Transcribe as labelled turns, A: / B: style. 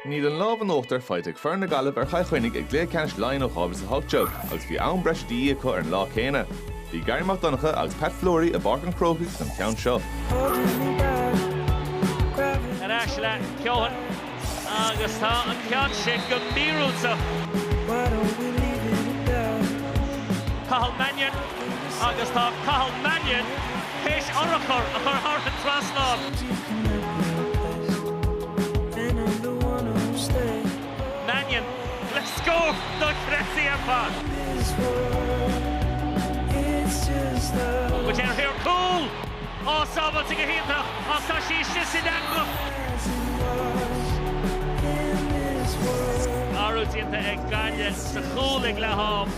A: Níl an lámh in uachtar faighte ag foireann na Gaillimhe ar Chill Chainnigh i gcluiche ceannais Laighean ó 2018 agus bhí am breise de dhíth acu ar an lá céanna. Bhí Garry Mac Donncha agus Pat Fleury i bPáirc an Chrócaigh don cheann seo. Ar ais le Keoghan agus tá an ceann sin go míorúilteach. Cathal Mannion. Agus tá Cathal Mannion théis urchar a chur thar an trasnán. Mannion le scór dochreidte ar fad. Buailte ar thóir cúl. Á sábháilte go hiontach ach tá sí istigh san eangach. Athrú déanta ag Gaillimh sa chúl ag leath-am.